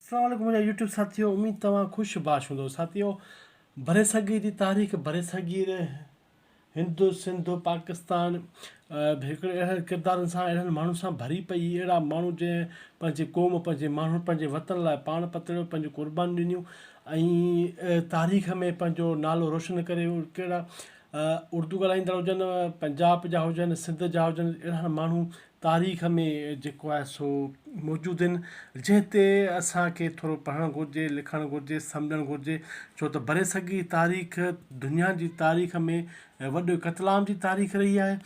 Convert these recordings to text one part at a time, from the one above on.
اسلام عليڪم منهنجا يوٽيوب ساٿيو اميد توهان خوش باش هوندو ساٿيو برصغير جي تاريخ برصغير هند سنڌ پاڪستان هڪڙي اهڙن ڪردارن سان اهڙن ماڻهن سان ڀري پئي هئي اهڙا ماڻهو جنهن پنهنجي قوم پنهنجي ماڻهن پنهنجي وطن لاء پاڻ پتڙيو پنهنجون قربانيون ڏنيون ۽ تاريخ ۾ پنهنجو نالو روشن ڪري ويو ڪهڙا اردو ڳالهائيندڙ هجن پنجاب جا هجن سنڌ جا هجن اهڙا ماڻهو تاريخ ۾ جيڪو آهي سو موجود آهن جنهن تي اسان کي ٿورو پڙهڻ گهرجي لکڻ گهرجي سمجهڻ گهرجي ڇو ته برصغير تاريخ دنيا جي تاريخ ۾ وڏو قتل عام جي تاريخ رهي آهي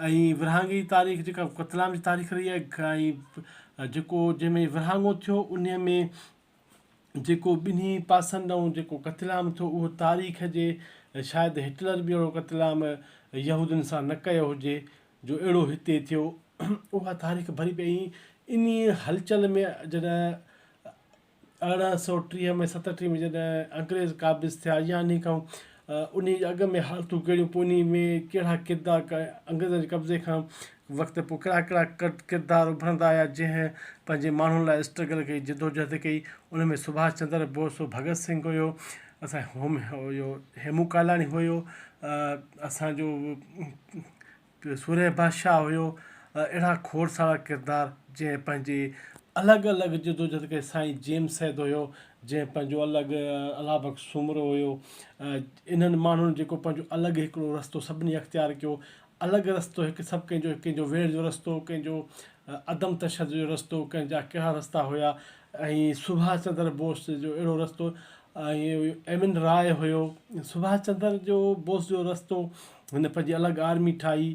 ۽ ورهاڱي جي تاريخ جيڪا قتل عام جي تاريخ رهي آهي ۽ جيڪو جنهن ۾ ورهاڱو ٿيو انهي ۾ جيڪو ٻنهي پاسن ڏانهن جيڪو قتل عام ٿيو اهو تاريخ جي شايد هٽلر به اهڙو قتل عام يهودين سان نه ڪيو هجي جو اهڙو هتي ٿيو اها تاريخ ڀري پئي ۽ انهي هلچل ۾ جڏهن ارڙهن سئو ٽيهه ۾ ستٽيهه ۾ جڏهن انگريز قابض ٿيا يا انهي کان انهي جي اڳ ۾ حالتون ڪهڙيون پوء انهي ۾ ڪهڙا ڪردار انگريزن جي قبضي کان وقت تي پوء ڪهڙا ڪهڙا ڪردار اڀرندا آيا جنهن پنهنجي ماڻهن لاء اسٽرگل ڪئي جدوجهد ڪئي ان ۾ سڀاش چندر بوس هو ڀڳت سنگهه هيو اسان هوم هيو هيمون ڪالاڻي هيو اسانجو سورهيه بادشاهه هيو اهڙا کوڙ سارا ڪردار جنهن پنهنجي الڳ الڳ جدوجهد ڪئي سائين جيمس سيد هيو جنهن پنهنجو الڳ الله بخش سومرو هيو انهن ماڻهن جيڪو پنهنجو الڳ هڪڙو رستو سڀني اختيار ڪيو الڳ رستو هڪ سڀ ڪنهن جو ڪنهن جو ويڙهه جو رستو ڪنهن جو عدم تشدد جو رستو ڪنهن جا ڪهڙا رستا هيا ۽ سڀاش چندر بوس جو اهڙو رستو ۽ ايم اين راء هيو سڀاش چندر جو بوس جو رستو هن پنهنجي الڳ آرمي ٺاهي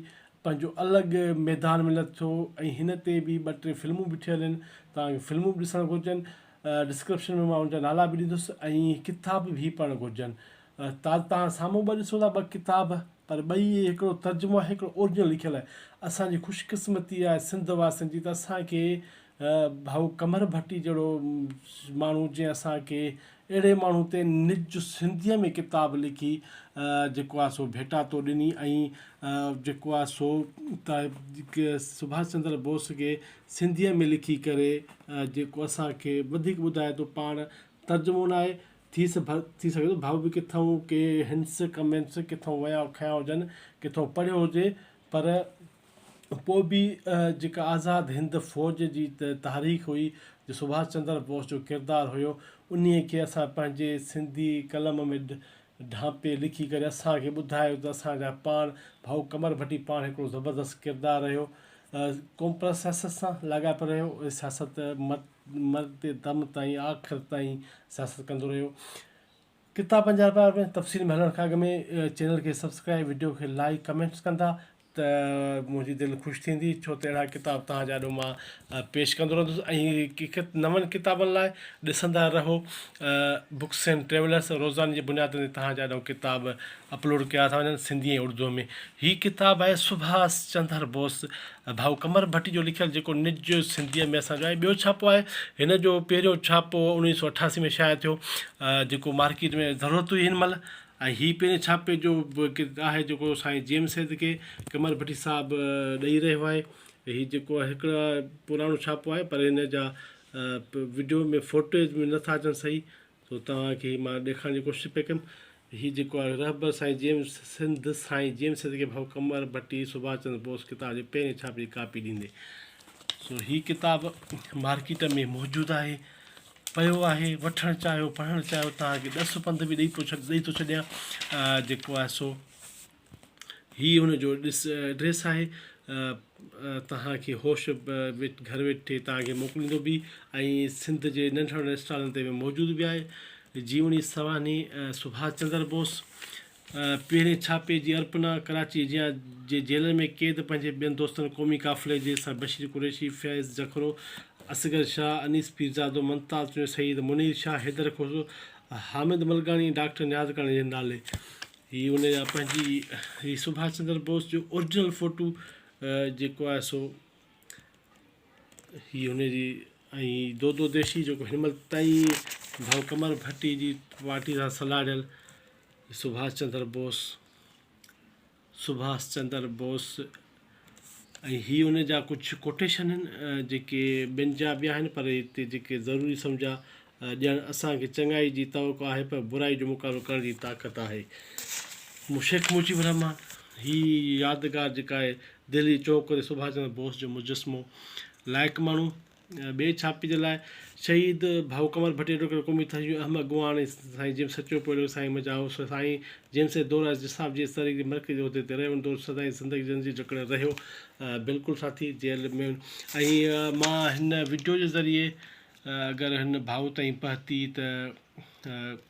پنهنجو الڳ ميدان ۾ لٿو ۽ هن تي به ٻه ٽي فلمون به ٺهيل آهن تانکه فلمون به ڏسڻ گهرجن ڊسڪرپشن ۾ مان ان جا نالا به ڏيندس ۽ ڪتاب به پڙهڻ گهرجن تازه تان سامهون ٻه ڏسون ٿا ٻه ڪتاب پر ٻئي اهي هڪڙو ترجمو آهي هڪڙو اورجنل لکيل آهي اسان جي خوش قسمتي آهي سنڌ واسين جي ته اسان کي ڀائو قمر ڀٽي جهڙو ماڻهو جنهن اسان کي اهڙي ماڻهو تي نج سنڌيء ۾ ڪتاب لکي جيڪو آهي سو ڀيٽاتو ڏني ۽ جيڪو آهي سو سڀاش چندر بوس کي سنڌيء ۾ لکي ڪري جيڪو اسان کي وڌيڪ ٻڌائي ٿو پاڻ ترجمو ناهي ٿي سگهي ٿو ڀؤ به ڪٿئون ڪي هنٽس ڪمينٽس ڪٿئون ويا کنيا هجن ڪٿئون پڙهيو هجي پر پوء به جيڪا آزاد هند فوج جي تحريڪ هئي جو سڀاش چندر بوس جو ڪردار هيو انهي کي اسان پنهنجي سنڌي قلم ۾ ڍانپي لکي ڪري اسانکي ٻڌايو ته اسانجا پاڻ ڀائو قمر ڀٽي پاڻ هڪڙو زبردست ڪردار رهيو قوم پرست سياست سان لاڳاپيل رهيو سياست مرندي دم تائين آخر تائين سياست ڪندو رهيو ڪتا پنجا رپيا وري تفصيل ۾ هلڻ کان اڳ ۾ چينل کي سبسڪرائب وڊيو کي لائڪ ڪمينٽس ڪندا ته منهنجي دل خوش ٿيندي ڇو ته اهڙا ڪتاب توهان جي آڏو مان پيش ڪندو رهندس ۽ نون ڪتابن لاء ڏسندا رهو بڪس اينڊ ٽريولرس روزاني جي بنياد تي توهان جي آڏو ڪتاب اپلوڊ ڪيا ٿا وڃن سنڌي ۽ اڙدوء ۾ هي ڪتاب آهي سڀاس چندر بوس ڀائو قمر ڀٽي جو لکيل جيڪو نج سنڌيء ۾ اسان جو آهي ٻيو ڇاپو آهي هن جو پهريون ڇاپو اوڻيهه سو اٺاسي ۾ شايع ٿيو جيڪو مارڪيٽ ۾ ضرورت هئي هن مهل ۽ هي پهرين ڇاپي جو آهي جيڪو سائين جي ايم سيد کي قمر ڀٽي صاحب ڏئي رهيو آهي هي جيڪو آهي هڪڙو پراڻو ڇاپو آهي پر هن جا وڊيو ۾ فوٽيج ۾ نٿا اچن صحيح سو توهان کي مان ڏيکارڻ جي ڪوشش پئي ڪيم هي جيڪو آهي رهبر سائين جيمس سنڌ سائين جيمس سنڌ کي ڀائو قمر ڀٽي سڀاش چندر بوس ڪتاب جي پهرين ڇاپي جي ڪاپي ڏيندي سو هي ڪتاب مارڪيٽ ۾ موجود آهي پيو آهي وٺڻ چاهيو پڙهڻ چاهيو توهان کي ڏس پنڌ به ڏئي پيو ڇڏ ڏئي ٿو ڇڏيان جيڪو آهي سو هي هن جو ايڊريس آهي توهان کي هوش گهر ويٺي توهان کي موڪليندو به ۽ سنڌ جي ننڍڙن ننڍڙن اسٽالن تي به موجود به آهي جيوڻي سوانحي سڀاش چندر بوس پهرين ڇاپي جي ارپنا ڪراچي جيان جي جيلن ۾ قيد پنهنجي ٻين دوستن قومي قافلي جي سر بشير قريشي فيض جکرو اصغر شاهه انيس پيرزادو ممتاز چوڻيو سيد منير شاهه حيدر کوسو حامد ملڪاڻي ۽ ڊاڪٽر نياز ڪاڻي جي نالي هي ان جا پنهنجي هي سڀاش چندر بوس جو اورجنل فوٽو جيڪو آهي سو هي ان جي ۽ دودو ديشي جيڪو هن مهل تائين ڀائو قمر ڀٽي جي پارٽي سان سلهاڙيل سڀاش چندر بوس سڀاش چندر بوس ۽ هي ان جا ڪجهه ڪوٽيشن آهن جيڪي ٻين جا به آهن پر هتي جيڪي ضروري سمجهيا ڄڻ اسان کي چڱائي جي توقع آهي پر برائي جو مقابلو ڪرڻ جي طاقت آهي. شيخ مجيب الرحمان هي يادگار جيڪا آهي دهلي چونڪ تي سڀاش چندر بوس جو مجسمو لائق ماڻهو ٻئي ڇاپي جي لاء شهيد ڀائو ڪنور ڀٽيجو ڪهڙو قومي تهجو اهم اڳواڻ سائين جيمس سچو پوڙهيو سائين مجا هائوس ۾ سائين جيمس جي دور ايس ڊي صاحب جي تحريڪ جي مرڪزي عهدي تي رهيو ان دور سدائين زندگي جن جي جڪڙ رهيو بلڪل ساٿي جيل ۾ ۽ مان هن وڊيو جي ذريعي اگر هن ڀائو تائين پهتي ته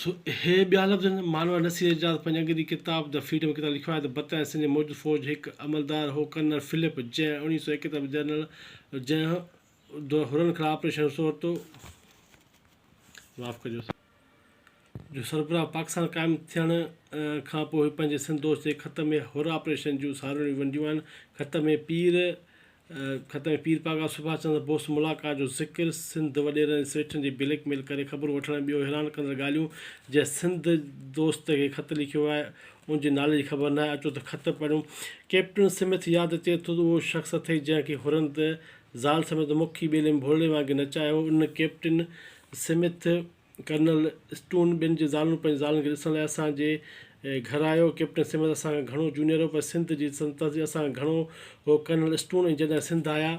سو اهي ٻيا لفظ آهن. مانوء نصير اعجاز پنهنجي انگريزي ڪتاب The Freedom ڪتاب ۾ لکيو آهي ته برطانيه سنڌ جي موجود فوج هڪ عملدار هو ڪرنل فلپ جنهن اڻويهه سؤ ايڪيتر ۾ جنرل جنهن دور حرن خلاف آپريشن سهرتو جو سربراهه پاڪستان قائم ٿيڻ کان پوء پنهنجي سنڌ دوست جي خط ۾ حر آپريشن جون ساروڻيون ونڊيون آهن خط ۾ پير خط ۾ پير پاڳا سڀاش چندر بوس ملاقات جو ذڪر، سنڌ وڏيرن ۽ سيٺن جي بليڪ ميل ڪري خبرون وٺڻ ۽ ٻيو حيران ڪندڙ ڳالهيون جنهن سنڌ دوست کي خط لکيو آهي ان جي نالي جي خبر ناهي اچو ته خط پڙهيون. ڪئپٽن سمٿ ياد اچي ٿو ته اهو شخص اٿئي جنهن کي هرن ته زال سميت مکي ٻيلي ۾ ڀولڙي وانگي نچايو هو ان ڪئپٽن سمٿ. ڪرنل اسٽون ٻين جي زالون پنهنجي زالن کي ڏسڻ لاء اسان جي گهر آيو. ڪئپٽن سمٿ اسان کان گهڻو جونيئر هو پر سنڌ جي سلطنت جي اسان کان گهڻو هو. ڪرنل اسٽون ۽ جڏهن سنڌ آيا.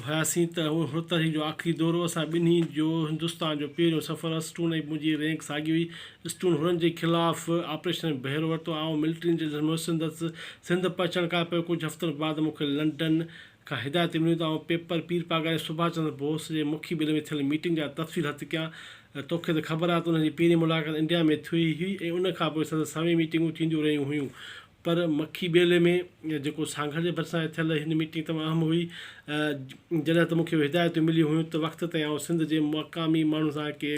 هياسين ته اهو هرطرحي جو آخري دورو اسان ٻنهي جو هندستان جو پهريون سفر هو. اسٽون ۽ منهنجي رينڪ ساڳي هئي. اسٽون هنن جي خلاف آپريشن ۾ بهرو ورتو. آئون ملٽري انٽيليجنس مهسندس سنڌ پهچڻ کان پوء ڪجهه هفتن بعد مون کي لنڊن کان هدايتون مليون ته آئون پيپر پير پاڳاري سڀاش چندر بوس جي مکي ٻلي ۾ ٿيل ميٽنگ جا تفصيل هٿ ڪيان. توکي ته خبر آهي ته انهن جي پهرين ملاقات انڊيا ۾ ٿئي هئي ۽ ان کان پوء سندس سوين ميٽنگون ٿينديون رهيون هيون پر مکي ٻيلي ۾ جيڪو سانگهڙ جي ڀرسان آهي ٿيل هن ميٽنگ تمام اهم هئي جڏهن ته مونکي اهي هدايتون مليون هيون ته وقت تائين آئون سنڌ جي مقامي ماڻهن سان ڪي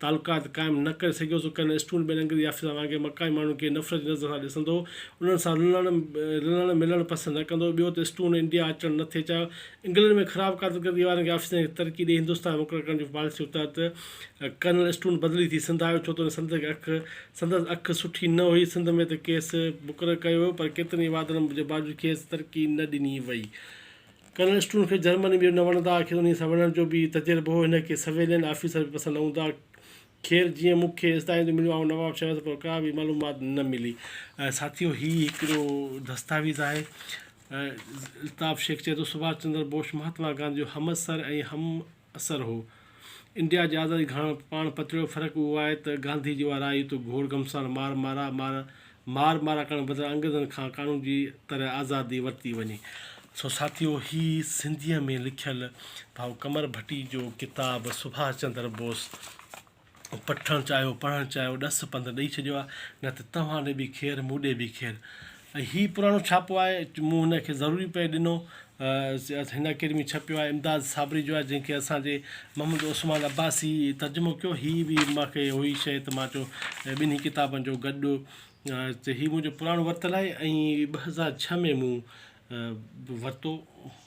تعلقات قائم نه ڪري سگهيو سو ڪنھن اسٽون ٻين انگريزي آفيسرن وانگي مڪائي ماڻھن کي نفرت جي نظر سان ڏسندو ھو انھن سان رلڻ رلڻ ملڻ پسند نه ڪندو ھو ٻيو ته اسٽون انڊيا اچڻ نه ٿي چاھيو انگلينڊ ۾ خراب ڪارڪردگي وارن کي آفيسرن کي ترقي ڏئي ھندستان ۾ مقرر ڪرڻ جي پاليسي تحت ڪرنل اسٽون بدلي ٿي سنڌ آيو ڇو ته سندس اک سندس اک سٺي نه ھئي سنڌ ۾ ته کيس مقرر ڪيو ويو پر ڪيترن ئي وعدن جي باوجود کيس ترقي نه ڏني وئي ڪنھن اسٽوڊنٽ کي جرمن ٻيو نه وڻندا آخر انھيء سان وڙھڻ جو به ئي تجربو ھو ھن کي سويلين آفيسر به پسند نه ھوندا خير جيئن مون کي استاديون مليون آئون نواب شاھه ھوس پر ڪا به معلومات نه ملي. ساٿيو ھي ھڪڙو دستاويز آھي الطاف شيخ چئي ٿو سڀاش چندر بوش مھاتما گانڌي جو ھمعصر ۽ ھم اثر هو. انڊيا جي آزادي کان پاڻ پتڙيو فرق اهو آهي ته گانڌي جي اها راء هئي ته گهوڙ گهمسان مار مارا مار مار مارا ڪرڻ بدران انگريزن کان قانون جي طرح آزادي ورتي وڃي. سو ساٿيو هي سنڌيء ۾ لکيل ڀائو قمر ڀٽي جو ڪتاب سڀاش چندر بوس. پٺڻ چاهيو پڙهڻ چاهيو ڏس پنڌ ڏئي ڇڏيو آهي نه ته توهان ڏي به خير مون ڏي به خير ۽ هي پراڻو ڇاپو آهي مون هن کي ضروري پئي ڏنو هن اڪيڊمي ڇپيو آهي امداد صابري جو آهي جنهن کي اسانجي محمد عثمان عباسي ترجمو کيو هي به مونکي هئي شيء ته مان چيو ٻنهي ڪتابن جو گڏ هي منهنجو پراڻو ورتل آهي ۽ ٻه هزار ڇهه ۾ مون ورتو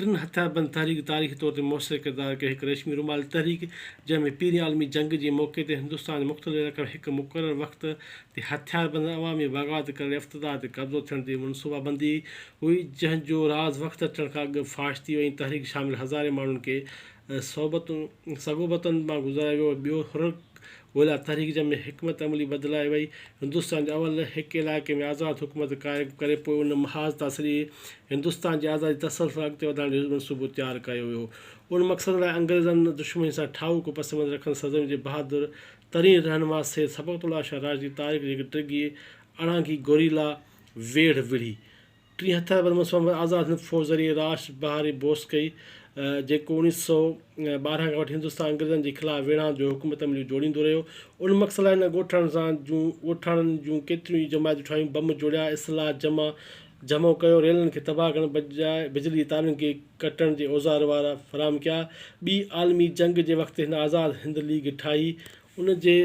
ٽن هٿيار بند تحريڪ تاريخي طور تي موثر ڪردار ڪيو هڪ ريشمي رومال تحريڪ جنهن ۾ پهرين عالمي جنگ جي موقعي تي هندستان جي مختلف علائقن ۾ هڪ مقرر وقت تي هٿيار بند ۽ عوامي بغاوت ڪرڻ يا افتدار تي قبضو ٿيڻ تي منصوبا بندي هئي جنهن جو راز وقت اچڻ کان اڳ فاش ٿي ويو ۽ تحريڪ شامل هزارين ماڻهن کي صحبتون سگهوبتن مان گذرايو ويو ۽ ٻيو حرڪ ڳوليا تحريڪ جنهن ۾ حڪمت عملي بدلائي وئي هندستان جي اول هڪ علائقي ۾ آزاد حڪومت قائم ڪري پوء ان محاذ تان سڄي هندستان جي آزادي تسلسل سان اڳتي وڌائڻ جو منصوبو تيار ڪيو ويو ان مقصد لاء انگريزن دشمني سان ٺاهوڪو پس منظر رکندڙ سرزمين جي بهادر ترين رهنما سيد سبقت الله شاهه راشدي طارق جي هڪ ڊگهي اڙانگهي گوريلا ويڙهه وڙهي ٽين هٿيار بند مصوبن بعد آزاد هند فوج ذريعي راش بهاري بوس ڪئي، جيڪو اڻيهه سؤ ٻارهن کان وٺي هندستان انگريزن جي خلاف ويڙهائن جو حڪم تمليون جوڙيندو رهيو. ان مقصد لاء هن ڳوٺاڻن سان جون ڳوٺاڻن جون ڪيتريون ئي جماعتون ٺاهيون، بم جوڙيا، اسلحا جمع جمعو ڪيو، ريلن کي تباهه ڪرڻ بجاء بجلي جي تارن کي ڪٽڻ جي اوزار وارا فراهم ڪيا. ٻي عالمي جنگ جي وقت هن آزاد هند ليگ ٺاهي، ان جي.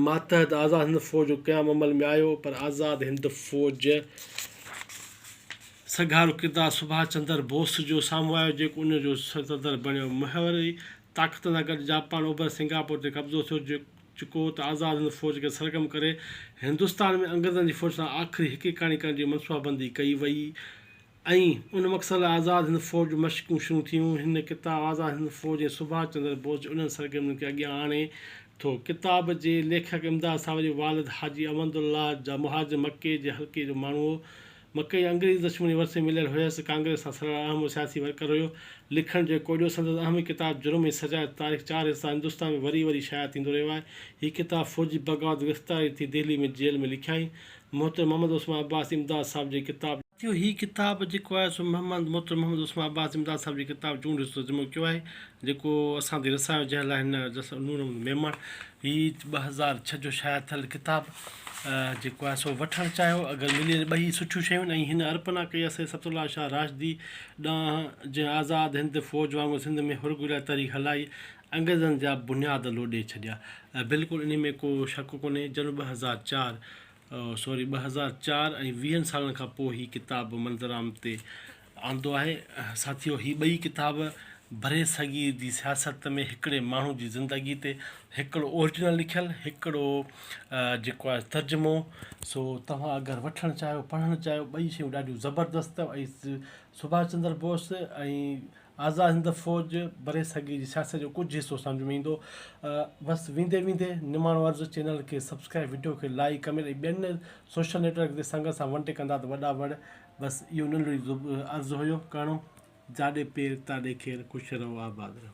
ماتحت آزاد هند فوج جو قيام عمل ۾ آيو پر آزاد هند فوج سگهارو ڪردار سڀاش چندر بوس جو سامهون آيو جيڪو ان جو صدر بڻيو محوري طاقتن سان گڏ جاپان اوڀر سنگاپور تي قبضو ٿيو چڪو ته آزاد هند فوج کي سرگرم ڪري هندستان ۾ انگريزن جي فوج سان آخري هڪيڪاڻي ڪرڻ جي منصوبابندي ڪئي وئي ۽ ان مقصد لاء آزاد هند فوج جون مشقون شروع ٿيون. هن ڪتاب آزاد هند فوج ۽ سڀاش چندر بوس جي انهن سرگرمين کي اڳيان آڻي ٿو. ڪتاب جي ليکڪ امداد صاحب جو والد حاجي احمد الله جا مهاجر مڪي جي حلقي جو ماڻهو هو. مڪي انگريز دشمني ورثي ۾ مليل هيس. ڪانگريس سان سڙهڙ اهم و سياسي ورڪر هيو. لکڻ جو هي ڪوڏيو سندس اهم هي ڪتاب جرم ۽ سزا جا تاريخ چار حصا هندستان ۾ وري وري شايع ٿيندو رهيو آهي. هي ڪتاب فوجي بغاوت گرفتاري ٿي دهلي ۾ جيل ۾ لکيائين. محترم محمد عثمان عباس امداد صاحب جي ڪتاب. جو هي ڪتاب جيڪو آهي سو محمد محترم محمد عثمان عباس امداد صاحب جي ڪتاب چونڊ جو ترجمو ڪيو آهي جيڪو اسان تائين رسايو جنهن لاء هن جس نور محمد ميمڻ هي ٻه هزار ڇهه جو شايع ٿيل ڪتاب جيڪو آهي سو وٺڻ چاهيو اگر ملي وڃي ٻئي سٺيون شيون ۽ هن ارپنا ڪئي آهي سيد صفت الله شاهه راشدي ڏانهن جنهن آزاد هند فوج وانگر سنڌ ۾ هرگهري لاء تحريڪ هلائي انگريزن جا بنياد لوڏي ڇڏيا. بلڪل انهي ۾ ڪو شڪ ڪونهي جنم ٻه هزار چار سوري ٻه هزار چار ۽ ويهن سالن کان پوء هي ڪتاب منظر عام تي آندو آهي. ساٿيو هي ٻئي ڪتاب برصغير جي سياست ۾ هڪڙي ماڻهو جي زندگي تي هڪڙو اورجنل لکيل هڪڙو جيڪو آهي ترجمو سو توهان اگر وٺڻ چاهيو پڙهڻ چاهيو ٻئي شيون ڏاڍيون زبردست اٿو ۽ سڀاش چندر بوس ۽ آزاد هند فوج برصغير جي سياست جو ڪجهه حصو سمجهه ۾ ايندو بس ويندي ويندي نماڻو عرض چينل کي سبسڪرائب وڊيو کي لائيڪ ڪمينٽ ۽ ٻين سوشل نيٽ ورڪ تي سنگت سان ونٽي ڪندا ته وڏا وڙ بس اهو ننڍڙي عرض هيو ڪرڻو جاڏي پير تاڏي خير خوش رهو آباد رهو.